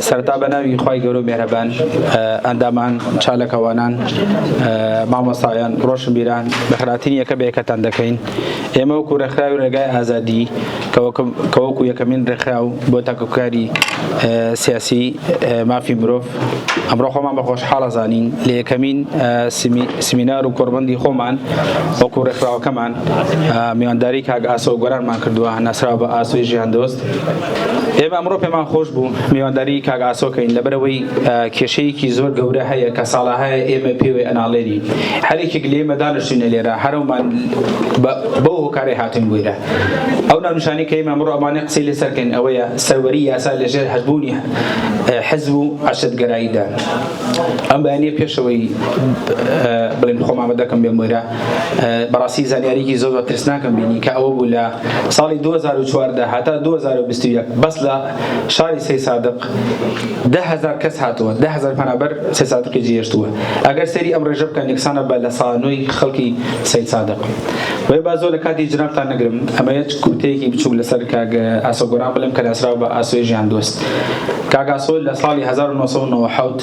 سەرەتا بە ناوی خی گەورە مێرەبان ئەندامان چالەکەوانان مامۆسایان ڕۆشن بیران بەخراتین یەکە بەیەکەتان دەکەین ئێمە وەکو ڕێکخراوی ڕێگای ئازادی کەوەکو یەکەمین ڕێکخراو بۆ تاکوکاری سیاسی مافی مرۆڤ ئەمڕۆ خۆمان بە خۆشحاڵە زانین لە یەکەمین سمینار و کۆربندی خۆمان وەکو ڕێکخراوەکەمان میوانداری کاگ ئاسە و گۆرانمان کردووە ناسراوە بە ئاسوی ژیان دۆست ئێمە ئەمڕۆ پێمان خۆش بوو میوانداری کاک ئاسۆکەین لەبەرەوەی کێشەیەکی زۆر گەورە هەیە کە ساڵەهەیە ئێمە پێوەی ئەناڵێری هەرێکێک لێمە دانیشتینە لێرە هەرەومان بەو هۆکارێ هاتن بوویرە ئەو ناونشانی کە ئێمە ئەمڕۆ ئەمانە قسەی لەسەرکەن ئەوەیە سەروەری یاسا لەژێر هەبوونی حەزب و عشدگەراییدا ئەم بەیانە پێشەوەی بڵێن خۆمامە دەکەم بێ مۆرە بەڕاستی زانیاریکی زۆر بە ترسناکم بینی کە ئەوە بوو لە ساڵی 2014 هاتا 2021 بەس لە شاری سێ سادق دههزار کەس هاتووە دههزار پەنابەر سێ سادقی جێهێشتووە ئەگەر سەری ئەم ڕێژە بکەن یەکسانە بە لە سانۆی خەڵکی سید سادق وێ با زۆر لە کاتی جنابتان نەگرم ئەمە یەک کورتەیەکی بچووک لەسەر کاگە ئاسۆگۆران بڵم کە لەسراو بە ئاسۆی ژیان دۆست کاگاسۆ لە ساڵی 1970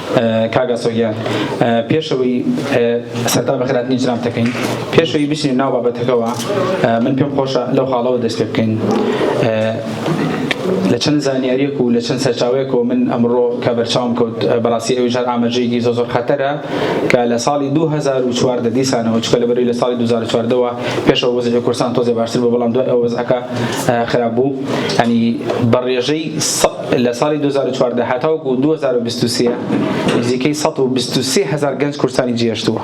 کاک ئاسۆ گیان پێشەوەی سەرتا بەخێر هاتنی جنابتەکەین پێشەوەی بچین ناو بابەتەکەوە من پێم خۆشە لەو خاڵەوە دەست پێ بکەین لە چەند زانیاریەک و لە چەند سەرچاوەیەکەوە من ئەمڕۆ کە بەرچاوم کەوت بەڕاستی ئەوی ژار ئاماژەیەکی زۆ زۆر خەتەرە کە لە ساڵی 2014 دیسانەوە چکە لە بەری لە ساڵی 2014ەوە پێشەوە وەزی کورسان تۆزێ باشتر بۆ بەڵام دوای ئەو وەزعەکە خراپ بوو هەنی بەڕێژەی لە ساڵی دوو هەزار و چواردە هەتاوەکو دوو هەزار و بیست و سێ نزیکەی سەد و بیست و سێ هەزار گەنج کوردستانی جێهێشتووە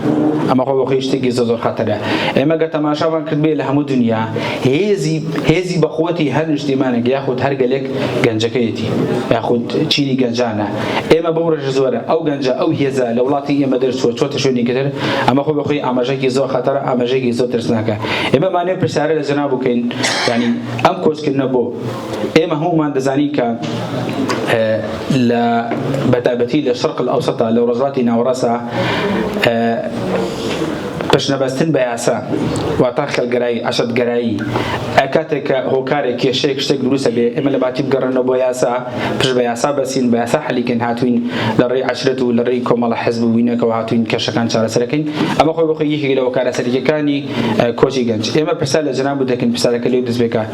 ئەمە خۆ بەخۆی شتێکی زۆر زۆر خەتەرە ئێمە گە تەماشامان کردبێ لە هەموو دنیا هێزی هێزی بەخۆتی هەر نیشتیمانێک یاخود هەر گەلێک گەنجەکەیەتی یاخود چینی گەنجانە ئێمە بەو ڕێژە زۆرە ئەو گەنجە ئەو هێزە لە وڵاتی ئێمە دەرچووە چۆتە شوێنی کردر ئەمە خۆ بەخۆی ئاماژەکی زۆر خەتەرە ئاماژەیەکی زۆر ترسناکە ئێمە مانێ پرسیارە لە جەناب بکەین ینی ئەم کۆچکردنە بۆ ئێمە هەموومان دەزانین کە لە بەتابەتی لە شەرق ئەوسەتا لە ڕۆژاتی ناوەڕاسا پشنەبەستن بە یاسا واتا خەلگەرایی عشتگەرایی کاتێک کە هۆکارێک کێشەیەک شتێک دروستە بێ ئێمە لە باتی بگەڕێنەوە بۆ یاسا پش بە یاسا بەسین بە یاسا حەلیکەین هاتوین لە ڕێی عشرەت و لە ڕێی کۆمەڵە حزب وینەکەەوە هاتوین کێشەکان چارەسەرەکەین ئەمە خۆی بخۆی یەکێک لە هۆکارە سەرەکیەکانی کۆچی گەنج ئێمە پرسا لە جناب و دەکەین پرسارەکە لێو دەست بێکە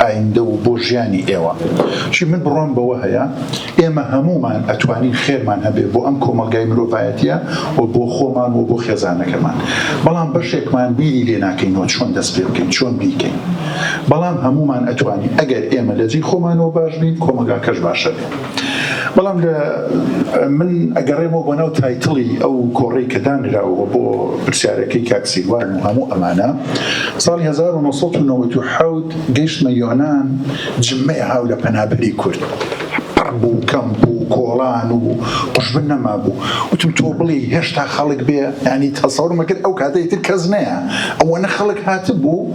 ئایندە و بۆ ژیانی ئێوە چی من بڕوام بەوە هەیە ئێمە هەموومان ئەتوانین خێرمان هەبێ بۆ ئەم کۆمەڵگای مرۆڤایەتیە و بۆ خۆمان و بۆ خێزانەکەمان بەڵام بەشێکمان بیری لێ ناکەینەوە چۆن دەست پێ بکەین چۆن بیکەین بەڵام هەموومان ئەتوانین ئەگەر ئێمە لەجێی خۆمانەوە باش بین کۆمەگاکەش باشە بێ. بەڵام لە من ئەگەڕێمەوە بۆ ناو تایتڵی ئەو کۆڕی کە دانراوە بۆ پرسیارەکەی کاکسیروان و هەموو ئەمانە ساڵی 1990 گەشتمە یۆناان جممەیە هاو لە پەنابەری کورد بوو کەم بوو کۆڵان و قوشبن نەما بوو وتم تۆ بڵێ هێشتا خەڵک بێ ینی تەسەور مەکرد ئەو کاتەی تر کەس نەیە ئەوەنە خەڵک هاتبوو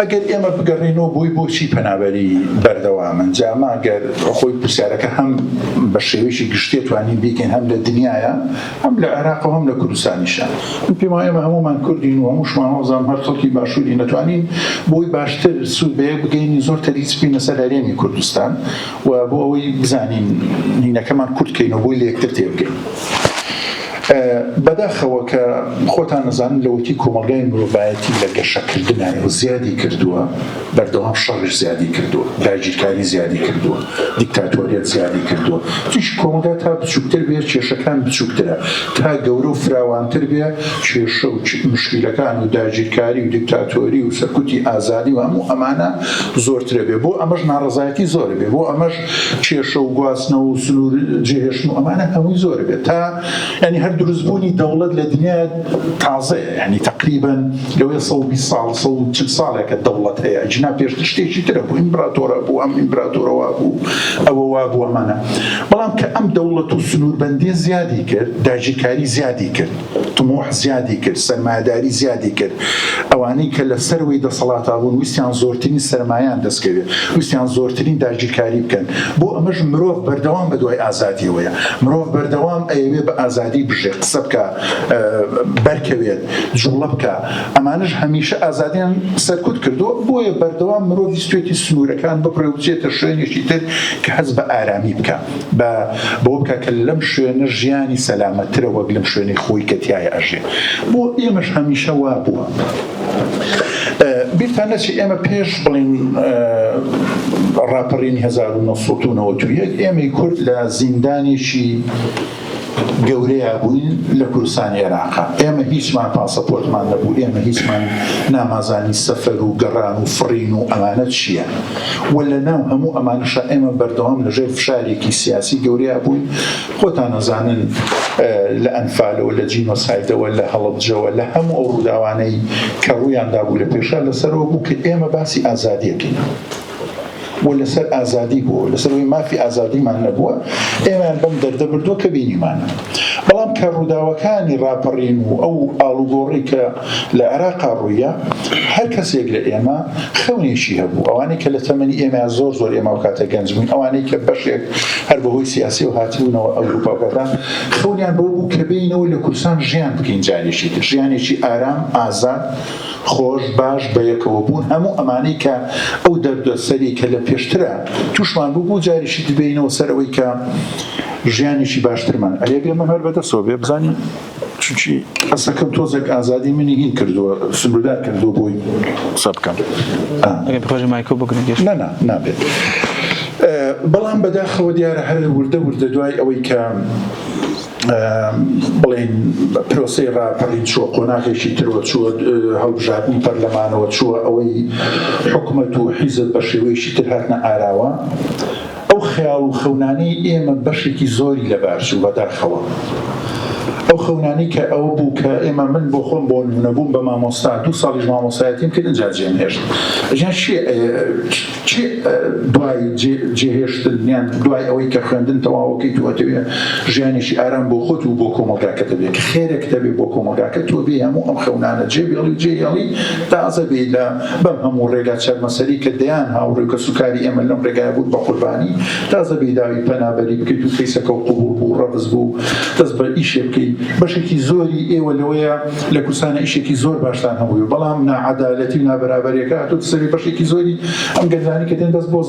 ئەگەر ئێمە بگەڕێینەوە بۆی بۆچی پەنابەری بەردەوامن جا ماگەر خۆی پرسیارەکە هەم بە شێوەیەکی گشتێ توانین بیکەین هەم لە دنیاە هەم لە عێراق و هەم لە کوردستانیشە من پێم وایە ئێمە هەمومان کوردین و هەمووشمان وازام هەر خەڵکی باشووری نەتوانین بۆی باشتر سوود بەیە بگەینی زۆر تەریک سپینە سەر هەرێمی کوردستان و بۆ ئەوەی بزانین نینەکەمان کورتکەین و بۆی لە یەکتر تێبگەین بەداخەوە کە خۆتان ئەزانن لەوەتی کۆمەڵگای مرۆڤایەتی لە گەشەکردنایە و زیادی کردووە، بەردەوام شەڕیش زیادی کردووە، داگیرکاری زیادی کردووە، دیکتاتۆریەت زیادی کردووە، تیشک کۆمەڵگا تا بچووکتر بێ کێشەکان بچووکترە، تا گەورە و فراوانتر بێ کێشە و موشکیلەکان و داگیرکاری و دیکتاتۆری و سەرکوتی ئازادی و هەموو ئەمانە زۆرترەبێ، بۆ ئەمەش ناڕەزایەتی زۆرەبێ، بۆ ئەمەش کێشە و گواستنەوە و سنوور جێهێشتن و ئەمانە هەمووی زۆرە بێت تا یعنی هەر دروستبوونی دەوڵەت لە دنیا تازەیە یعنی تقریبا لەوەی سەد و بیست ساڵ سەد و چل ساڵێکە دەوڵەت هەیە جنا پێشتر شتێکی ترە بوو ئیمبراتۆرە بوو ئەم ئیمبراتۆرە وا بوو ئەوە وا بوو ئەمانە بەڵام کە ئەم دەوڵەت و سنووربەندی زیادی کرد داگیرکاری زیادی کرد تموح زیادی کرد، سەرمایەداری زیادی کرد، ئەوانەی کە لە سەروەی دەسەڵاتا بوون ویستیان زۆرترین سەرمایەیان دەست کەوێت، ویستیان زۆرترین داگیرکاری بکەن، بۆ ئەمەش مرۆڤ بەردەوام بە دوای ئازادیەوەیە، مرۆڤ بەردەوام ئەیەوێت بە ئازادی بژێت، قسە بکا، بەرکەوێت، جوڵە بکا، ئەمانەش هەمیشە ئازادیان سەرکوت کردووە، بۆیە بەردەوام مرۆڤ ویستوێتی سنوورەکان ببڕێ و بچێتە شوێنێکی تر کە هەست بە ئارامی بکا. با بەوە بکا کە لەم شوێنە ژیانی سەلامەتترە وەک لەم شوێنەی خۆی کە تیایا ئەژێ. بۆ ئێمەش هەمیشە وا بووە. بیرتان نەچێ ئێمە پێش بڵێن ڕاپەڕینی هەزار و نۆ سەد و نەوەد و یەک ئێمەی کورد لە زیندانێکی گەورەیا بووین لە کوردستانی عێراق ئێمە هیچمان پاسەپۆرتمان نەبوو ئێمە هیچمان نامازانی سەفەر و گەڕان و فڕین و ئەمانە چیە وە لە ناو هەموو ئەمانەشە ئێمە بەردەوام لە ژێر فشارێکی سیاسی گەورەیا بووین خۆتان ئەزانن لە ئەنفالەوە لە جینۆسایدەوە لە هەڵبجەوە لە هەموو ئەو ڕووداوانەی کە ڕوویان دابوو لە پێشا لەسەرەوە بوو کە ئێمە باسی ئازادیەکەین و لەسەر ئازادی بووە لەسەر ئەوەی مافی ئازادیمان نەبووە ئێمەیان بەم دەردە بردووە کە بینیمان بەڵام کە ڕووداوەکانی ڕاپەڕین و ئەو ئاڵوگۆڕی کە لە عێراقا ڕوویە هەر کەسێک لە ئێمە خەونێکی هەبوو ئەوانەی کە لە تەمەنی ئێمە زۆر زۆر ئێمە کاتە گەنج بوون ئەوانەی کە بەشێک هەر بەهۆی سیاسی و هاتبوونەوە ئەوروپا کەدا خەونیان بۆ بوو کە بینەوە لە کوردستان ژیان بکەین جارێکی ژیانێکی ئارام ئازاد خۆش باش بەیەکەوە بوون هەموو ئەمانەی کە ئەو دەردە سەری کە لە پێشترە توشمان بوو بوو جاریشی دبینەوە سەر ئەوەی کە ژیانێکی باشترمان ئەێ بێ مەمەر بەدەسەوە بێ بزانین چونچی قسەکەم تۆزێک ئازادی منی هین کردووە سنووردار کردو بۆی قسە بکەم خۆش مایکۆ بگرن نەنا نابێت بەڵام بەداخەوە دیارە هەر وردە وردە دوای ئەوەی کە بڵێین پرۆسەی ڕاپەڕین چووە قۆناغێکی ترەوە چووە هەڵبژاردنی پەرلەمانەوە چووە ئەوەی حکومەت و حیزب بە شێوەیەکی تر هاتنە ئاراوە ئەو خەیاڵ و خەونانەی ئێمە بەشێکی زۆری لەبارچوو بەداخەوە ئەو خەونانی کە ئەو بوو کە ئێمە من بۆ خۆم بۆ نمونەبووم بە مامۆستا دوو ساڵیش مامۆستایەتیم کرد جاجێم هێشت ژیان چی دوای جێهێشتن یان دوای ئەوەی کە خوێندن تەواوەکەی تۆ ئەتەوێ ژیانێکی ئارام بۆ خۆت و بۆ کۆمەڵگاکەت دەبێت کە خێرێک دەبێت بۆ کۆمەڵگاکە تۆ بێ هەموو ئەم خەونانە جێبێڵی و جێهێڵی تازە بێ لە بەم هەموو ڕێگا چەرمەسەری کە دەیان هاوڕێ و کەسوکاری ئێمە لەم ڕێگای بوون بە قوربانی تازە بێ داوی پەنابەری بکەیت و کەیسەکە و قبوڵ بوو ڕەفز بوو دەست بە ئیشێ بکەیت بەشێکی زۆری ئێوە لەوەیە لە کوردستان ئیشێکی زۆر باشتان هەبووی بەڵام ناعەدالەتی و نابەرابەرەکە هاتوت سەری بەشێکی زۆری ئەم گەنجانی کە دێن بەس بۆ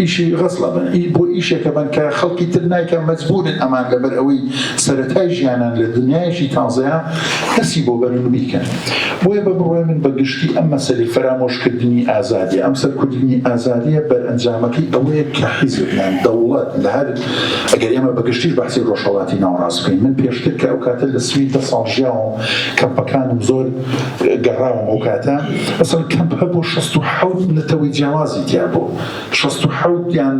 ئیشی غەسڵە بن ئی بۆ ئیشێکە بن کە خەڵکی تر نایکە مەجبورن ئەمان لەبەر ئەوەی سەرەتای ژیانان لە دنیایشی تازەیە دەسی بۆ بەرن و بیکەن بۆیە بە بڕۆێ من بە گشتی ئەم مەسەری فەرامۆشکردنی ئازادی ئەم سەرکردنی ئازادیە بەرئەنجامەکەی ئەوەیە کە حیزبیان دەوڵەت لە هەر ئەگەر ئێمە بە گشتیش بەحسی ڕۆژهەڵاتی ناوەڕاست بکەین، من پێشتر کە ئەو کاتە لە سوید دە ساڵ ژیاوم، کەمپەکانم زۆر گەڕاوم ئەو کاتە، مەسەڵەن کەمپ هەبوو شەست و حەوت نەتەوەی جیاوازی تیا بوو، شەست و حەوت یان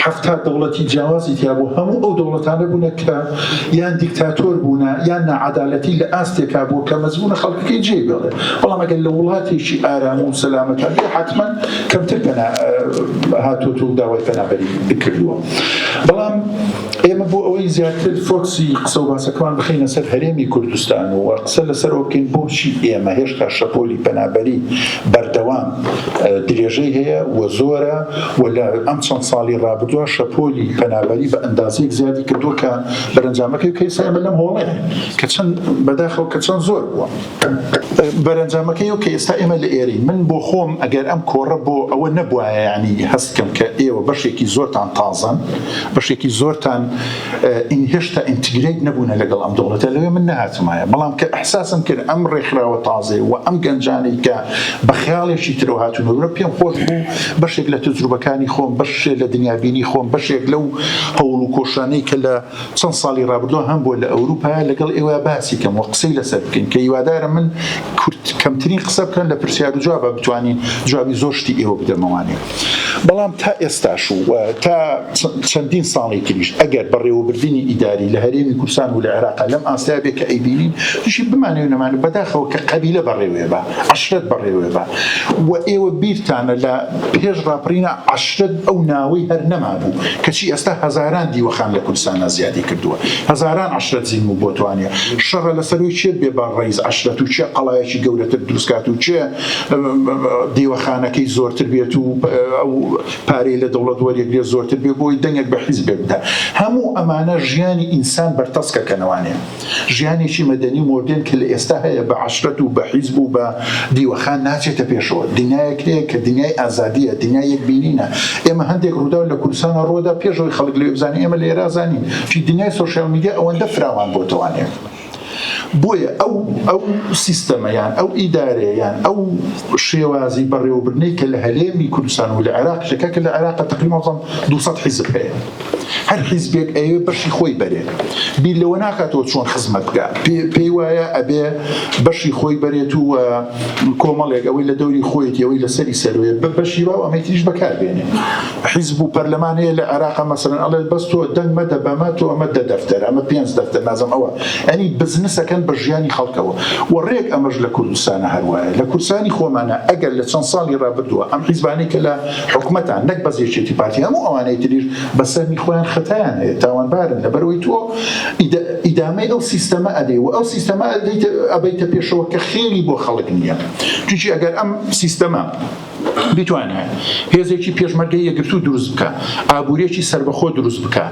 حەفتا دەوڵەتی جیاوازی تیا بوو، هەموو ئەو دەوڵەتانە بوونە کە یان دیکتاتۆر بوونە یان ناعەدالەتی لە ئاستێکا بووە کە مەزبوونە خەڵکەکەی جێی بێڵێ، بەڵام ئەگەر لە وڵاتێکی ئارام و سەلامەتا بێ حەتمەن کەمتر پەنا هاتووە و داوای پەنابەری کردووە بەڵام ئێمە بۆ ئەوەی زیاتر فۆکسی قسە و باسەکەمان بخینە سەر هەرێمی کوردستان و قسە لەسەر ئۆکین بۆچی ئێمە هێشتا شەپۆلی پەنابەری بەردەوام درێژەی هەیە و زۆرە و لە ئەم چەند ساڵی ڕابدووە شەپۆلی پەنابەری بە ئەندازێک زیادی کردووە کە بەرەنجامەکەی کەیسە ئێمە لەم هۆڵێ کە چەند بەداخەوە کە چەند زۆر بووە بەرەنجامەکەی ئەو کە ئێستا ئێمە لە ئێرەین من بۆ خۆم ئەگەر ئەم کۆڕە بۆ ئەوە نەبوایە یعنی هەست کەم کە ئێوە بەشێکی زۆرتان تازەن بەشێکی زۆرتان ئین هێشتا ئینتگریت نەبوونە لەگەڵ ئەم دەوڵەتە لەوێ من نهاتمایە بەڵام کە احساسم کرد ئەم ڕێکخراوە تازێ و ئەم گەنجانی کە بە خیاڵێکی ترەوە هاتون و پێم خۆش بوو بەشێک لە تجروبەکانی خۆم بەشێ لە دنیابینی خۆم بەشێک لەو هەوڵ و کۆشانەی کە لە چەند ساڵی ڕابردوو هەم بۆ لە ئەوروپا لەگەڵ ئێوە باسی کەم وە قسەی لەسەر بکەین کە هیوادارم من کورت کەمترین قسە بکەن لە پرسیار و جوابا بتوانین جوابی زۆر شتی ئێوە بدەمەوانێ بەڵام تا ئێستاش و تا چەندین ساڵی تریش ئەگەر بەڕێوەبردنی ئیداری لە هەرێمی کوردستان و لە عێراقا لەم ئاستەیە بێ کە ئەیبینین توشی بمانێ و نەمانێ بەداخەوە کە قەبیلە بەڕێوێ بە عەشرەت بەڕێوێ بە و ئێوە بیرتانە لە پێش ڕاپەڕینا عەشرەت ئەو ناوەی هەر نەمابوو، کەچی ئێستا هەزاران دیوەخان لە کوردستانا زیادی کردووە، هەزاران عەشرەت زین و بۆتوانێ شەڕە لەسەرووی چێت بێ با ڕەیز عەشرەت و چێ قەڵایەکی گەورەتر دروستکات و چێ دیوەخانەکەی زۆرتر بێت و ئەو پارەی لە دەوڵەت وەریەگرێ زۆرتر بێ بۆی دەنگێک بە حیزبێک بدا. هەموو ئەمانە ژیانی ئینسان بەرتەسکەکەنەوانێ. ژیانێکی مەدەنی و مۆدێرن کە لە ئێستا هەیە بە عەشرەت و بە حیزب و بە دیوەخان ناچێتە پێشەوە. دنیایەک هەیە کە دنیای ئازادییە، دنیای یەکبینینە. ئێمە هەندێک ڕووداو لە کوردستانە ڕووە دا پێش ئەوەی خەڵک لەوێ بزانێ ئێمە لە ئێرا زانین. چی دنیای سۆشیال میدیا ئەوەندە فراوان بۆتەوانێ. بۆیە ئەو ئەو سیستەمە یان ئەو ئیدارەیە یان ئەو شێوازی بەڕێوەبردنەی کە لە هەلێمی کوردستان و لە عێراق شەکە کە لە عێراقە تەقریبا مەوزەم دوو سەد حیزب هەیە. هەر حیزبێک ئەیەوێ بەشی خۆی بەرێ بیر لەوە ناکاتەوە چۆن خزمەت بکە پێی وایە ئەبێ بەشی خۆی بەرێت و کۆمەڵێک ئەوەی لە دەوری خۆیەتی ئەوەی لەسەری سەروێ بە بەشی باو ئەمەی تریش بەکاربێنێ حیزب و پەرلەمان هەیە لە عێراق مەسەرەن ئەڵێ بەس تۆ دەنگ مەدە بەمە تۆ ئەمە دە دەفتەر ئەمە پێنج دەفتەر نازم ئەوە ئەنی بزنسەکەن بە ژیانی خەڵکەوە و ڕێک ئەمەش لە کوردستانە هەروایە لە کورسانی خۆمانە ئەگەر لە چەند ساڵی ڕابردووە ئەم حیزبانەی کە لە حکومەتان نەک بەس یەکێتی پارتی هەموو ئەوانەی تریش بە سەهمی خۆیان خەتایان هەیە تاوانبارن لەبەرئەوەی تۆ ئیدامەی ئەو سیستەمە ئەدەی و ئەو سیستەمە ئەبەیتە پێشەوە کە خێری بۆ خەڵک نییە چونکی ئەگەر ئەم سیستەمە بیتوانێ هێزێکی پێشمەرگەی یەگرتوو دروست بکە ئابوورێکی سربەخۆ دروست بکە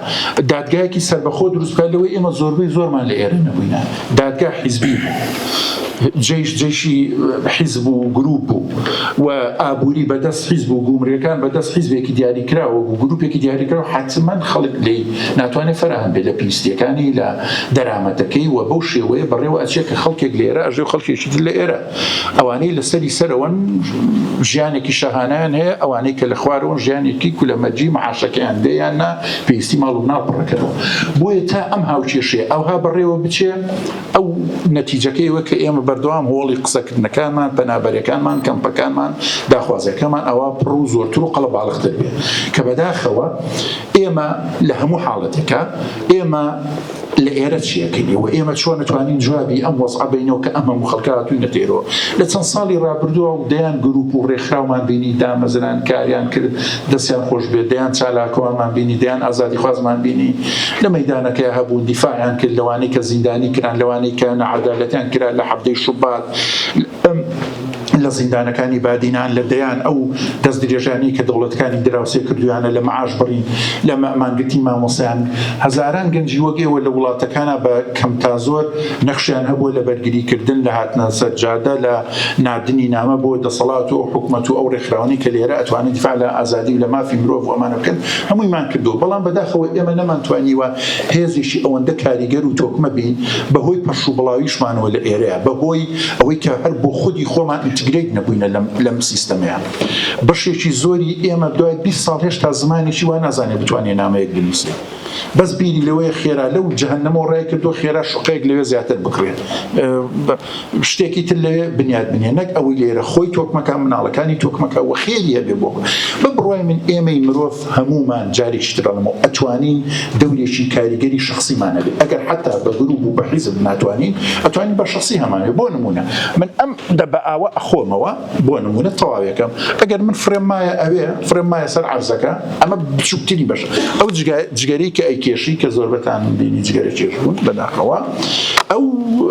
دادگایەکی سربەخۆ دروست بکە لەوەی ئێمە زۆربەی زۆرمان لە ئێرە نەبووینە دادگا حیزبی بوو، جەیش جەیشی حیزب و گروپ بوو و ئابووری بەدەست حیزب و گومرگەکان بەدەست حیزبێکی دیاریکراوە بوو، گروپێکی دیاریکراو حەتمەن خەڵک لێی ناتوانێت فەراهەم بێت لە پێویستییەکانی، لە دەرامەتەکەی و بەو شێوەیە بەڕێوە ئەچێت کە خەڵکێک لە ئێرە ئەژێ و خەڵکێکی تر لە ئێرە. ئەوانەی لە سەری سەرەوەن ژیانێکی شەهانیان هەیە ئەوانەی کە لە خوارەوەن ژیانێکی کولەمەرجی معاشەکەیان بێ یان نا پێویستی ماڵ و ناو پڕەکەەوە بۆیە تا ئەم هاوکێشێ ئەوها بەڕێوە بچێ ئەو نەتیجەکەیەوە کە ئێمە بەردەوام هۆڵی قسەکردنەکانمان پەنابەرەکانمان کەمپەکانمان داخوازەکەمان ئەوە پڕ و زۆرتر و قەڵە باڵختر بێ کە بەداخەوە ئێمە لە هەموو حاڵەتەکە ئێمە لە ئێرە چی ئەکەین و ئێمە چۆن ئەتوانین جوابی ئەم وەزعە بەینەوە کە ئەم هەموو خەڵکە هاتووینە دێرەوە؟ لە چەند ساڵی ڕابردووە و دەیان گرووپ و ڕێکخراومان بینی دامەزران، کاریان کرد دەستیان خۆش بێت، دەیان چالاکوانمان بینی، دەیان ئازادیخوازمان بینی لە مەیدانەکەیا هەبوون دیفاعیان کرد لەوانەی کە زیندانی کران، لەوانەی کە ناعەدالەتیان کرا لە حەڤدەی شوبات. لە زیندانەکانی بادینان لە دەیان ئەو دەستدرێژانەی کە دەوڵەتەکانی دراوسێ کردویانە لە مەعاش بڕین لە مانگرتنی مامۆستایان هەزاران گەنجی وەک ئێوە لە وڵاتەکانە بە کەم تا زۆر نەخشیان هەبووە لە بەرگریکردن لە هاتنە سەر جادە لە ناردنی نامە بۆ دەسەڵات و ئەو حکومەت و ئەو ڕێکخراوانەی کە لێرە ئەتوانن دیفاع لە ئازادی و لە مافی مرۆڤ و ئەمانە بکەن هەموویمان کردووە بەڵام بەداخەوە ئێمە نەمانتوانیوە هێزیشی ئەوەندە کاریگەر و تۆکمە بین بەهۆی پەرش و بڵاویشمانەوە لە ئێرە بەهۆی ئەوەی کە هەر بۆ خودی خۆمان ئینتگرەیت نەبووینە لەم لەم سیستەمەیە بەشێکی زۆری ئێمە دوای 20 ساڵ هێشتا زمانێکی وا نازانێت بتوانێت نامەیەک بنووسێ بەس بیری لەوەیە خێرا لەو جەهەنەمەوە ڕای کردو خێرا شوقەیەک لەوێ زیاتر بکڕێت شتێکی تر لەوێ بنیاد بنێ نەک ئەوەی لێرە خۆی تۆکمەکان مناڵەکانی تۆکمەکە وە خێری هەبێ بۆ بە بڕای من ئێمەی مرۆڤ هەموومان جاریکی تر ئەڵێمەوە ئەتوانین دەورێکی کاریگەری شخصیمان هەبێت ئەگەر حتا بە گروپ و بە حیزب ناتوانین ئەتوانین بە شخصی هەمانێ بۆ نمونە من ئەم دە بە ئاوە ئەخۆمەوە بۆ نمونە تەواوەکەم ئەگەر من فرێم مایە ئەوێ فرێم مایە سەر عەرزەکە ئەمە بچووکتری بەش ئەو جگەری کە ئەیکێشی کە زۆربەتان بینی جگەرە کێش بوون بەداخەوە ئەو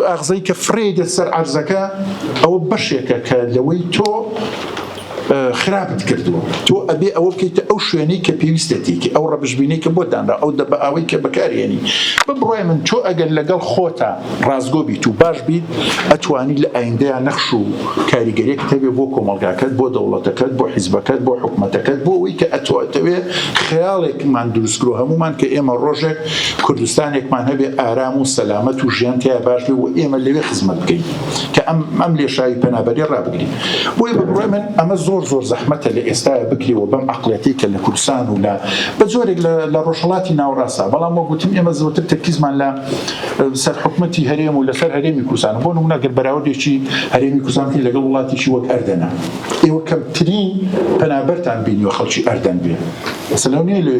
ئاغزەی کە فرێ دە سەر عەرزەکە ئەوە بەشێکە کە لەوەی تۆ خراپت کردووە تۆ ئەبێ ئەوە بکەیتە ئەو شوێنەی کە پێویستە تێکی ئەو ڕەبژبینەی کە بۆ دانرا ئەو دە بە ئەوەی کە بەکارێنی بە بڕای من تۆ ئەگەر لەگەڵ خۆتە ڕازگۆ بیت و باش بیت ئەتوانی لە ئایندەیە نەخش و کاریگەرێک تەبێ بۆ کۆمەلگاکەت بۆ دەوڵەتەکەت بۆ حیزبەکەت بۆ حکوومەتەکەت بۆ ئەوەی کە ئەتوەتەوێ خەیاڵێکمان دروستکرۆ هەمومان کە ئێمە ڕۆژێک کوردستانێکمان هەبێ ئارام و سەلامەت و ژیان تیا باش بێ و ئێمە لەوێ خزمەت بکەین. کە ئەم ئەم لێشاوی پەنابەری ڕابگری بۆی بە بڕای من ئەمە زۆر زۆر زەحمەتە لە ئێستاە بکریەوە بەم عقلەتی کە لە کوردستان و لە بە جۆرێک لە ڕۆژهڵاتی ناوڕاستە بەڵام وەگوتم ئێمە زۆرتر تەرکیزمان لە سەر حکوومەتتی هەرێم و لەسەر هەرێمی کوردستان بۆ نمونەگەر بەراودێکی هەرێمی کوردستانکە لەگەڵ وڵاتیشی وەک ئەردەنە ئێوە کەمترین پەنابەرتان بینیوە خەڵکی ئەردەن بێ سلونی لێ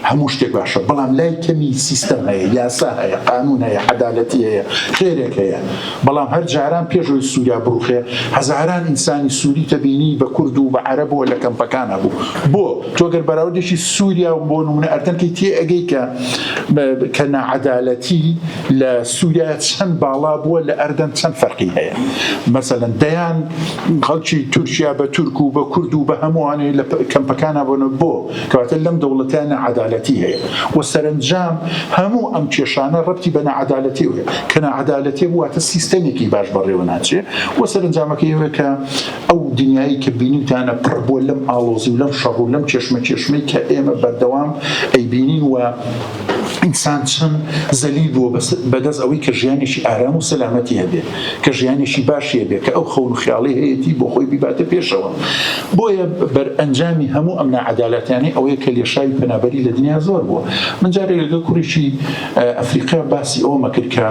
هەموو شتێک باشە بەڵام لای کەمی سیستەم هەیە یاسا هەیە قانون هەیە عەدالەتی هەیە خێرێک هەیە بەڵام هەر جاران پێش ئەوەی سوریا بڕوخێ هەزاران ئینسانی سوری تەبینی بە کورد و بە عەرەب و لە کەمپەکان هەبوو بۆ تۆ گەر بەراوردێکی سوریا و بۆ نمونە ئەردەن کەی تێ ئەگەی کە کە ناعەدالەتی لە سوریا چەند باڵا بووە لە ئەردەن چەند فەرقی هەیە مەسەلەن دەیان خەڵکی تورکیا بە تورک و بە کورد و بە هەمووانەی لە کەمپەکانە بۆنە بۆ کەواتە لەم دەوڵەتە ناعەدالەتی هەیە و سەرەنجام هەموو ئەم کێشانە ڕەبتی بە ناعەدالەتیەوە هەیە کە ناعەدالەتی بوو واتە سیستەمێکی باش بەڕێوە ناچێ و سەرەنجامەکەی ئەوەیە کە ئەو دنیایی کە بینیوتانە پڕ بووە لەم ئاڵۆزی و لەم شەڕ و لەم کێشمەکێشمەی کە ئێمە بەردەوام ئەیبینین و ئینسان چەند زەلیل بووە بەدەست ئەوەی کە ژیانێکی ئارام و سەلامەتی هەبێ. کە ژیانێکی باشی هەبێت، کە ئەو خەون و خیاڵەی هەیەتی بۆ خۆی بیباتە پێشەوە. بۆیە بەرئەنجامی هەموو ئەم ناعەدالەتیانەی ئەوەیە کە لێشاوی پەنابەری لە دنیا زۆر بووە. من جارێک لەگەڵ کوڕێکی ئەفریقا باسی ئەوەم ئەکرد کە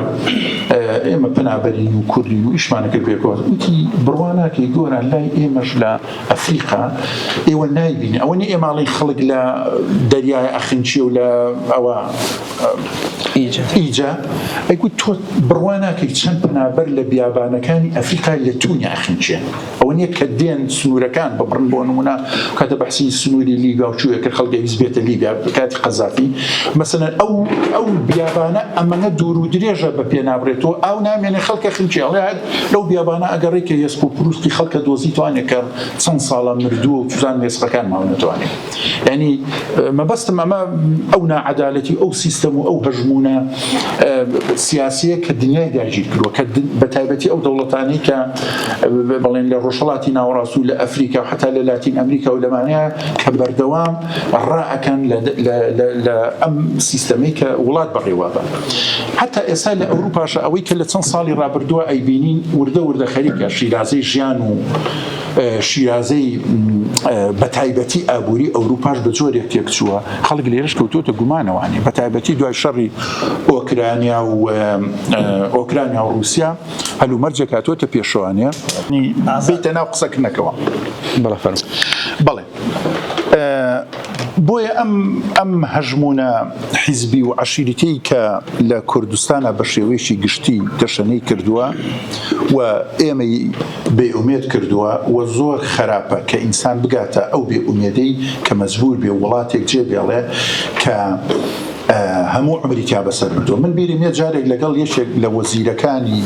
ئێمە پەنابەرین و کوردین و ئیشمان ئەکرد پێکەوە، وتی بڕوا ناکەی گۆران لای ئێمەش لە ئەفریقا ئێوە نایبینی ئەوە نی ئێماڵی خەڵک لە دەریای ئەخنچی و لە ئەوە ئیجا ئەگو تۆ بڕوا ناکەی چەند پەنابەر لە بیابانەکانی ئەفریقای لە تونی ئەخنچێن ئەوە نیە کە دێن سنوورەکان ببڕن بۆ نمونە کاتە بەحسی سنووری لیبیا و چووە کە خەڵگە هیچ بێتە لیبیا کاتی قەزافی مەسەن ئەو ئەو بیابانە ئەمەە دوور و درێژە بە پێ نابرێتەوە ئاو نامێنێ خەڵکە خنچێڵێت لەو بیابانە ئەگەڕێ کە یەسق و پروستی خەڵکە دۆزی توانێ کە چەند ساڵە مردووە و چزان وێسقەکان ماو نەتوانێ ینی مەبەستم ئەمە ئەو ناعەدالەتی ئەو سیستەم و ئەو هەژمونە سیاسیە کە دنیای داگیر کردوە کە بە تایبەتی ئەو دەوڵەتانی کە بەڵێن لە ڕۆژهڵاتی ناوەڕاست و لە ئەفریقا حتا لە لاتین ئەمریکا و لەمانەیە کە بەردەوام ڕائەکەن لە ئەم سیستەمەی کە وڵات بەڕێوابا حتا ئێستا لە ئەوروپاشە ئەوەی کە لە چەند ساڵی ڕابردووە ئەیبینین وردە وردە خەریکە شیرازەی ژیان و شیرازەی بە تایبەتی ئابووری ئەوروپاش بە جۆرێک تێکچووە خەڵک لێرش کەوتوتە گومانەوانی بە تایبەتی دوای شەڕی ئۆکرانیا و ئۆکرانیا و رووسیا هەلومەرجێکاتوەتە پێشوانە بێتە ناو قسەکردنەکەەوە بەڵێ بۆیە ئەم ئەم هەژموونە حیزبی و عەشیرەتەی کە لە کوردستانە بە شێوەیەکی گشتی تەشەنەی کردووە و ئێمەی بێ ئومێد کردووە و زۆر خەراپە کە ئینسان بگاتە ئەو بێ ئومێدەی کە مەجبوور بێ وڵاتێک جێ بێڵێ کە هەموو عمری تیا بەسەر بردووە من بیرم یە جارێک لەگەڵ یەکێک لە وەزیرەکانی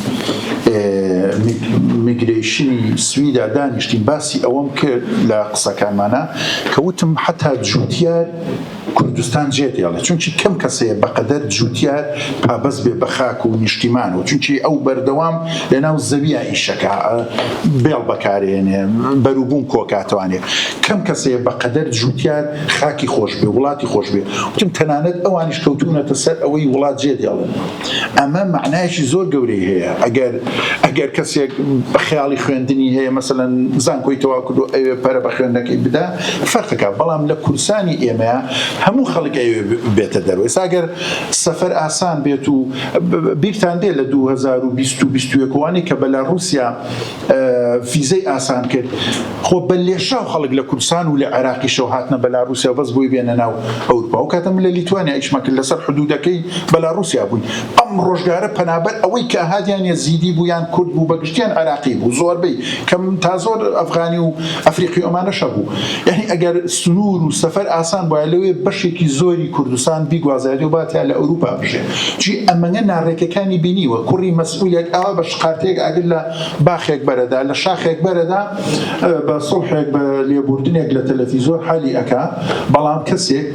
میگرەیشنی سویدا دانیشتین باسی ئەوەم کرد لە قسەکانمانە کە وتم حتا جوتیار کوردستان جێت یاڵێ چونکی کەم کەسەیە بەقەدەر جوتیار پابەست بێ بە خاک و نیشتیمان و چونکی ئەو بەردەوام لە ناو زەویە ئیشەکە بێڵ بەکارێنێ بەروبووم کۆکاتوانێ کەم کەسەیە بەقەدەر جوتیار خاکی خۆش بێ وڵاتی خۆش بێ وتم تەنانەت ئەوانیش کەوتونەتە سەر ئەوەی وڵات جێ دێڵن ئەمە معنایشی زۆر گەورەی هەیە ئەگەر ئەگەر کەسێک خیاڵی خوێندنی هەیە مەمثلەن زانکۆی تەوا کردو ئەوێ پەرە بە خوێندەکەی بدا فەرقەکە بەڵام لە کورسانی ئێمە هەموو خەڵک ئەوێ بێتە دەروێ ساگەر سەفەر ئاسان بێت و بیرتان دێ لە 2020 وانەی کە بەلا رووسیا فیزەی ئاسان کرد خۆ بە لێشاو خەڵک لە کوردستان و لە عێراقیشەوە هاتنە بەلاروسیا و بەس بۆی بێنە ناو ئەوروپا و کاتە من لە لیتوانیا ئیشمە کرد لەسەر حدودەکەی بەلاروسیا بووین ئەم ڕۆژگارە پەنابەر ئەوەی کە هادیان یەزیدی بوو یان کورد بوو بەگشتیان عێراقی بوو زۆربەی کەم تا زۆر ئەفغانی و ئەفریقی ئەمانەشە بوو یعنی ئەگەر سنوور و سەفەر ئاسان بووە لەوێ بەشێکی زۆری کوردستان بیگوازایەوە باتیا لە ئەوروپا بژێ جی ئەمەنە ناڕێکەکانی بینیوە کوڕی مەسئولێک ئاوا بە شقارتەیەک ئاگر لە باخێک بەرەدا لە شاخێک بەرەدا بە سوڵحێک بە لێبوردنێک لە تەلەفیزۆر حالی ئەکا بەڵام کەسێک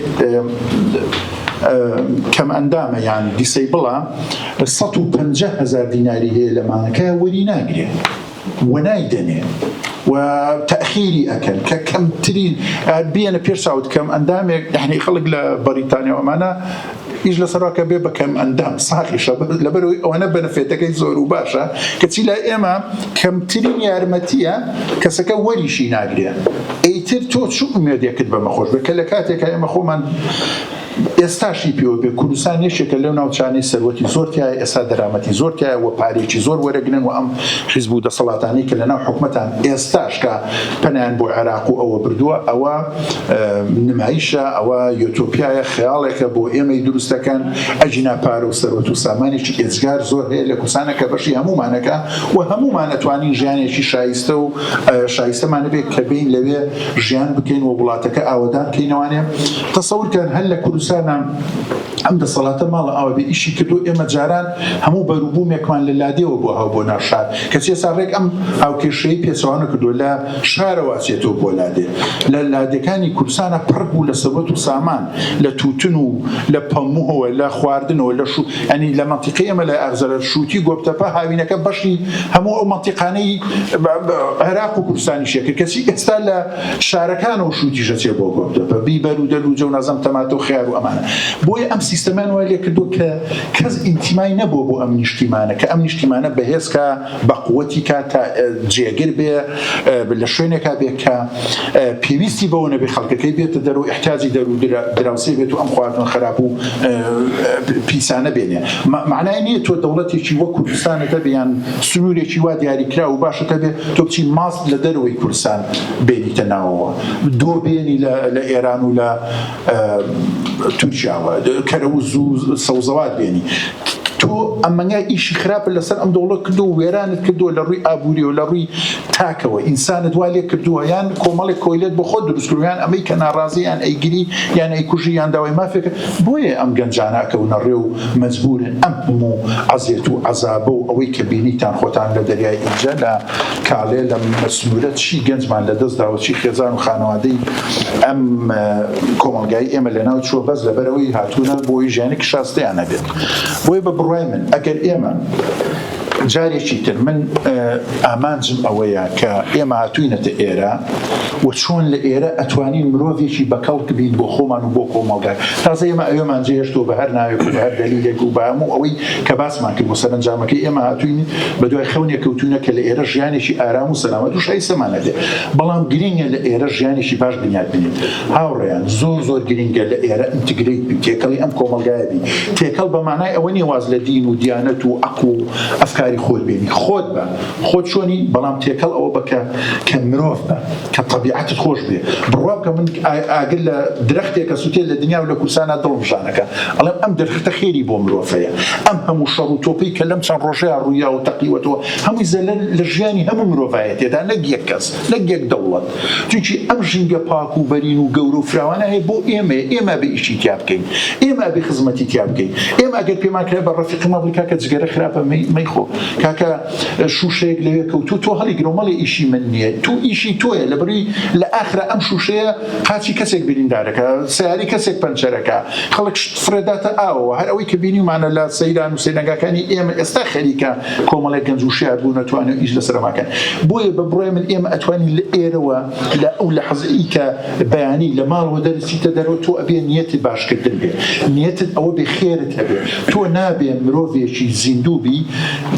کەم ئەندامە یان دیسەیبڵە سەد و پەنجا هەزار دیناری هەیە لە مانگەکە وەری ناگرێ. وەنای دەنێن و تاخیری ئەکەن کە کەمترین بیەنە پێش چاوت کەم ئەندامێک یعنی خەڵک لە بەریتانیا ئەمانە ئیش لە سەراکە بێ بەکەم ئەندام ساخیشە لەبەرەوەی ئەوەنە بەنفێتەکەی زۆر و باشە کەچی لای ئێمە کەمترین یارمەتیە کەسەکە وەریشی ناگرێ ئەیتر تۆ چ ئومێدێکت بەمە خۆش بکە لە کاتێکە ئێمە خۆمان ئێستاش هی پێوە بێ کوردستان یەکێکە لەو ناوچانەی سەروەتی زۆر تیایە ئێستا دەرامەتی زۆر تیایە و پارەیەکی زۆر وەرەگرن و ئەم حیزب و دەسەڵاتانەی کە لەناو حکومەتان ئێستاش کە پەنایان بۆ عێراق و ئەوە بردووە ئەوە نمایشە ئەوە یۆتۆپیایە خەیاڵێکە بۆ ئێمەی دروست دەکەن ئەجینا پارە و سەروەت و سامانێکی ئێجگار زۆر هەیە لە کوردستانە کە بەشی هەمومانەکە و هەمومان ئەتوانین ژیانێکی شایستە و شایستەمانە بێت کە بین لەوێ ژیان بکەین و وڵاتەکە ئاوەدان کەینەوانێ تەسەور کەن هەر لە کوردستانا ئەم دەسەڵاتە ماڵە ئاوە بێ ئیشی کردوە ئێمە جاران هەموو بەروبومێکمان لە لادێوە بۆ هاو بۆ ناو شار کەچی ئێستا ڕێک ئەم هاوکێشەی پێچەوانە نەکردوە لە شارەوە ئەچێتەوە بۆ لادێ لە لادێکانی کوردستانە پڕ بوو لە سەروەت و سامان لە تووتن و لە پەمووەوە لە خواردنەوە لە شو ئەنی لە مەنتیقی ئێمە لە ئەغزەرە شووتی گۆپتەپە هاوینەکە بەشی هەموو ئەو مەنتیقانەی عێراق و کوردستانیشێ کرد کەچی ئێستا لە شارەکانەوە شووتیشە چێ بۆ گۆردە بە بیبەر و دەل و جەو نازم تەماتۆ خیار و ئەمانە بۆیە ئەم سیستەمان وای لێ کردو کە کەس ئینتیمای نەبوو بۆ ئەم نیشتیمانە کە ئەم نیشتیمانە بەهێزکە بەقوەتی کا تا جێگر بێ لە شوێنێکا بێ کە پێویستی بەوە نەبێ خەڵکەکەی بێتە دەر و احتیاجی دەر و دراوسێ بێت و ئەم خواردن خراپ و پیسانە بێنێ معنای نییە تۆ دەوڵەتێکی وەک کوردستانەکە بیان سنوورێکی وا دیاریکرا و باشەکە بێ تۆ بچی ماست لە دەرەوەی کوردستان بێنیتە ناوەوە دۆ بێنی لە ئێران و لە تورکیاوە کەرە و زوو سەوزەوات بێنی تۆ ئەمەنگای ئیشی خراپە لەسەر ئەم دەوڵە کردو وێرانت کردووە لە ڕووی ئابووری و لە ڕووی تاکەوە ئینسانت وا لێ کردووە یان کۆمەڵێک کۆیلێت بە خۆ دروستکردویان ئەمەی کە ناڕازیان ئەیگری یان ئەیکوژی یان داوای مافێکە بۆیە ئەم گەنجانە ئەکەونە ڕێ و مەجبورن ئەم هەموو عەزێت و عەزابە و ئەوەی کە بینیتان خۆتان لە دەریای ئینجە لە کاڵێ لە سنورە چی گەنجمان لە دەست داوە چی خێزان و خانەوادەی ئەم کۆمەڵگای ئێمە لە ناو چووە بەس لەبەر ئەوەی هاتوونە بۆی ژیانێکی شاستیان هەبێت بۆیە بە بڕوای من ئەگەر ئێمە جارێکی تر من ئامانجم ئەوەیە کە ئێمە هاتووینەتە ئێرە و چۆن لە ئێرە ئەتوانین مرۆڤێکی بەکەڵک بین بۆ خۆمان و بۆ کۆمەڵگا تازە ئێمە ئەوێمان جێهێشتەوە بە هەر ناوێک و هەر دەلیلێک و بە هەموو ئەوەی کە باسمان کرد بۆ سەرنجامەکەی ئێمە هاتووین بە دوای خەونێ کەوتونە کە لە ئێرە ژیانێکی ئارام و سەلامەت و شایستەمانەبێ بەڵام گرینگە لە ئێرە ژیانێکی باش بنیات بنین هاوڕێیان زۆر زۆر گرینگە لە ئێرە ئینتگرەیت بی تێکەڵی ئەم کۆمەڵگایە بی تێکەڵ بە مانای ئەوە نیە واز لە دین و دیانەت و عەقڵ و ئەفکاری خۆت بێنی خۆت بە خۆت چۆنی بەڵام تێکەڵ ئەوە بکە کە مرۆڤ بە کە طبیعەتت خۆش بێ بڕوا بکە من ئاگر لە درەختێکە سوتێ لە دنیا و لە کورسانە دڵمژانەکە ئەڵێم ئەم درختە خێری بۆ مرۆڤەیە ئەم هەموو شەڕ و تۆپی کە لەم چەند ڕۆژەیە ڕوویا و تەقیوەتەوە هەمووی زەلەر لە ژیانی هەموو مرۆڤایەتێدا نەک یەک کەس نەک یەک دەوڵەت چونکی ئەم ژینگە پاک و بەرین و گەورە و فراوانە هەیە بۆ ئێمەیە، ئێمە ئەبێ ئیشی تیا بکەین، ئێمە ئەبێ خزمەتی تیا بکەین، ئێمە ئەگەر پێمان کرا بە ڕەفیقما بڵێ کاکە جگەرە خراپە مەیخۆ، کاکە شووشەیەک لەوێ کەوتووە تۆ هەڵیگرەوە مەڵێ ئیشی من نییە، تۆ ئیشی تۆیە لەبەروی لە ئاخرا ئەم شووشەیە قاچی کەسێک بریندارەکا، سەیارەی کەسێک پەنچەرەکا، خەڵک شت فڕێداتە ئاوەوە، هەر ئەوەی کە بینیومانە لە سەیران و سەیرانگاکانی ئێمە ئێستا خەریکە کۆمەڵێک گەنج وشیار بوون توانێ ئیش لەسەرماکەن بۆیە بە بڕای من ئێمە ئەتوانین لە ئێرەوە لە ئەو لە حەزئی کە بەیانی لە ماڵەوە دەرسیتە دەرەوە تۆ ئەبێ نیەتی باشکردن بێ نیەتت ئەوە بێ خێرت هەبێ تۆ نابێ مرۆڤێکی زیندووبی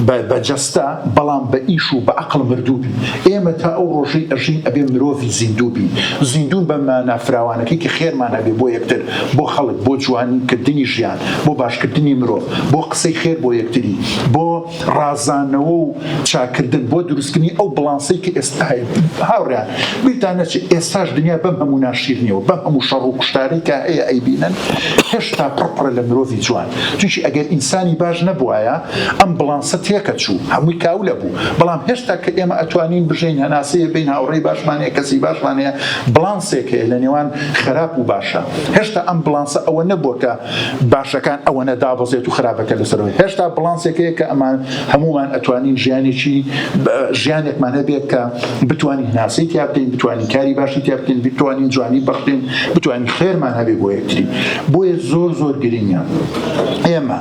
بە جەستە بەڵام بە ئیش و بە عقل مردووبی ئێمە تا ئەو ڕۆژەی ئەژین ئەبێ مرۆڤی زیندووبی زیندون بە مانافراوانەکەی کە خێرمان هەبێ بۆ یەکتر بۆ خەڵک بۆ جوانکردنی ژیان بۆ باشکردنی مرۆڤ، بۆ قسەی خێر بۆ یەکتری، بۆ ڕازانەوە و چاکردن، بۆ دروستکردنی ئەو بڵانسەی کە ئێستا هەیە. هاوڕێیان، بیرتان نەچێت ئێستاش دنیا بەم هەموو ناشیرنییەوە، بەم هەموو شەڕ و کوشتارەی کە هەیە ئەیبینن، هێشتا پڕ پڕە لە مرۆڤی جوان. چونکی ئەگەر ئینسانی باش نەبوایە، ئەم بڵانسە تێکەچوو، هەمووی کاول ئەبوو. بەڵام هێشتا کە ئێمە ئەتوانین بژین، هەناسەیەک بین، هاوڕێی باشمان هەیە، کەسی باشمان هەیە، بڵانسێک هەیە لە نێوان خراپ و باشە هێشتا ئەم بڵانسە ئەوە نەبووە کە باشەکان ئەوەنە دابەزێت و خراپەکە لەسەرەوەی هێشتا بڵانسێک هەیە کە ئەمان هەمومان ئەتوانین ژیانێکی ژیانێکمان هەبێت کە بتوانین ناسی تیا بکەین بتوانین کاری باشی تیا بکەین بتوانین جوانی بەخشین بتوانین خێرمان هەبێ بۆ یەکتری بۆیە زۆر زۆر گرنگە ئێمە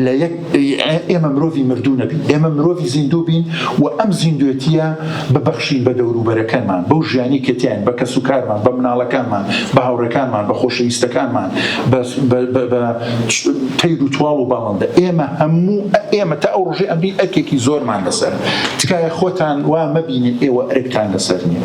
لە یەک ئێمە مرۆڤی مردوو نەبین، ئێمە مرۆڤی زیندوو بین و ئەم زیندوێتییە ببەخشین بە دەوروبەرەکەمان، بەو ژیانی کە تیاین، بە کەسوکارمان، بە مناڵەکانمان، بە هاوڕێکانمان، بە خۆشەویستەکانمان، بە تەیر و تواڵ و باڵندە. ئێمە هەموو ئێمە تا ئەو ڕۆژەی ئەمرین ئەرکێکی زۆرمان لەسەرە. تکایە خۆتان وا مەبینن ئێوە ئەرکتان لەسەر نییە.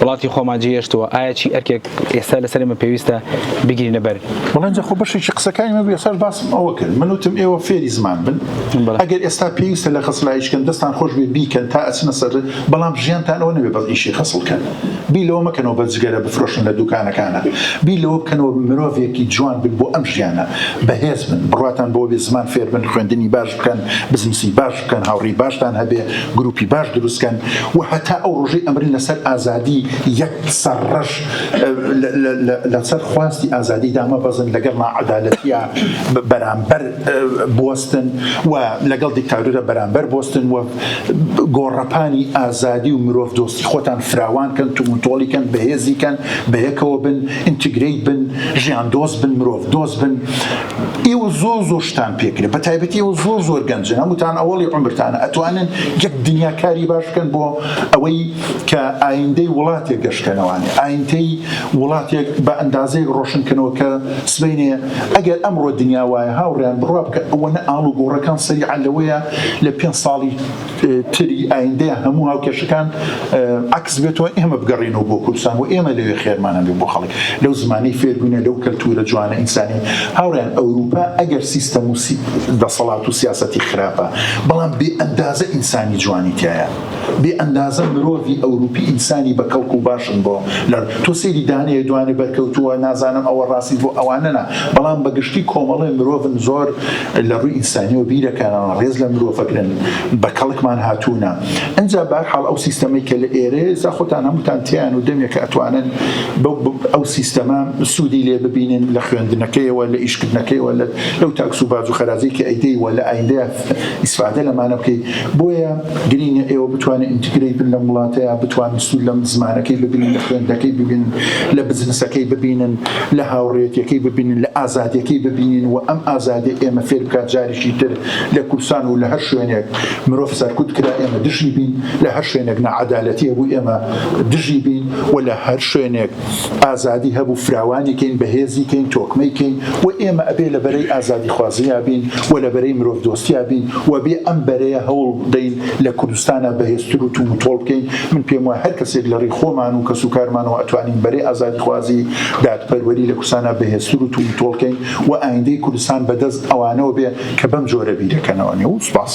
وڵاتی خۆمان جێهێشتووە ئایا چی ئەرکێک ئێستا لەسەر ئێمە پێویستە بگرینە بەر وڵا ئینجا خۆ بەشێکی قسەکانی من ئێساش باسم ئەوە کرد من وتم ئێوە فێری زمان بن بەڵێ. ئەگەر ئێستا پێویستە لە خەسلایش کەن دەستان خۆش بێ بیکەن تا ئەچنە سەر بەڵام ژیانتان ئەوە نەبێ بەس ئیشی خەسڵ کەن بیر لەوە مەکەنەوە بە جگەرە بفرۆشن لە دوکانەکانە بیر لەوە بکەنەوە مرۆڤێکی جوان بن بۆ ئەم ژیانە بەهێز بن بڕواتان بەوە بێ زمان فێر بن خوێندنی باش بکەن بزنسی باش بکەن هاوڕێی باشتان هەبێ گروپی باش دروستکەن و هەتا ئەو ڕۆژەی ئەمرن لەسەر ئازادی یەک سەر ڕەش لەسەر خواستی ئازادی دامە بەزن لەگەڵ ناعەدالەتیا بەرامبەر بوەستن و لەگەڵ دیکتاتورە بەرامبەر بۆستن و گۆڕەپانی ئازادی و مرۆڤ دۆستی خۆتان فراوان کەن تومنتۆڵی کەن بەهێزی کەن بەیەکەوە بن ئینتیگریت بن ژیان دۆست بن مرۆڤ دۆست بن ئێوە زۆر زۆر شتان پێکرێت بە تایبەتی ئەوە زۆر زۆر گەنجن هەمووتان ئەوڵی عمرتانە ئەتوانن یەک دنیا کاری باش بکەن بۆ ئەوەی کە ئایندەی وڵاتێک گەشتکەنەوانێ ئایندەی وڵاتێک بە ئەندازەیە ڕۆشنکەنەوە کە سبینێ ئەگەر ئەمڕۆ دنیا وایە هاوڕیان بڕوا بکە ئەوەنە ئاڵ و گۆڕەکان سەری عەلەوەیە لە پێ ساڵی تری ئایندەیان هەموو هاوکێشەکان عکس بێتەوە ئێمە بگەڕێنەوە بۆ کوردستان و ئێمە لەوێ خێرمان هەبێ بۆ خەڵک لەو زمانی فێربوونە لەو کەلتورە جوانە ئینسانی هاوڕیان ئەوروپا ئەگەر سیستەم و دەسەڵات و سیاسەتی خراپە بەڵام بێ ئەندازە ئینسانی جوانی تایە بێ ئەندازە مرۆڤی ئەوروپی ئینسانی بە کەڵک و باشن بۆ لە تۆ سێری دانەیە دوانێ بەرکەوتووە نازانم ئەوە ڕاستی بۆ ئەوانەنا بەڵام بەگشتی کۆمەڵی مرۆڤن زۆر لە ڕووی ئینسانیەوە بیرەکانەوە ڕێز لە مرۆڤ ئەگرن بە کەڵکمان هاتوونە ئەنجا بە هەر حاڵ ئەو سیستەمەی کە لە ئێرەیە جا خۆتان هەمووتان تێیان و دەمێکە ئەتوانن ئەو سیستەمە سوودی لێ ببینن لە خوێندنەکەیەوە لە ئیشکردنەکەیەوە لەو تاکس و باج و خەراجەی کە ئەیدەی وە لە ئایندەیە ئیسفادە لەمانە بکەی بۆیە گرینگە ئێوە بتوانن ئینتیگرەی بن لەم وڵاتەیا بتوانن سوود لە زمانەکەی ببینن لە خوێندنەکەی ببینن لە بزنسەکەی ببینن لە هاوڕێیەتیەکەی ببینن لە ئازادیەکەی ببینین و ئەم ئازادی ئێمە فێر بکات جاریشی تر لە کورسان و لە هەر شوێنێک مرۆڤ سەرکوت کرا ئێمە دژی بین لە هەر شوێنێک نەعەدالەتیە بوو ئێمە دژی بین و لە هەر شوێنێک ئازادی هەبوو فراوانی کەین بەهێزی کەین تۆکمەی کەین و ئێمە ئەبێ لە بەرەی ئازادی خوازیا بین و لە بەرەی مرۆڤ دۆستیا بین و بێ ئەم بەرەیە هەوڵ دەین لە کوردستانا بەهێزتر و توم و تۆڵ بکەین من پێم وایە هەر کەسێک لە ڕی خۆمان و کەس و کارمانەوە ئەتوانین بەرەی ئازادی خوازی دادپەروەری لە کوردستانا بەهێزتر و توم و تۆڵ کەین و ئایندەی کوردستان بە دەست ئەوانەوە بێ کە بەم جۆرە بیرەکەنەوە نێو سوپاس.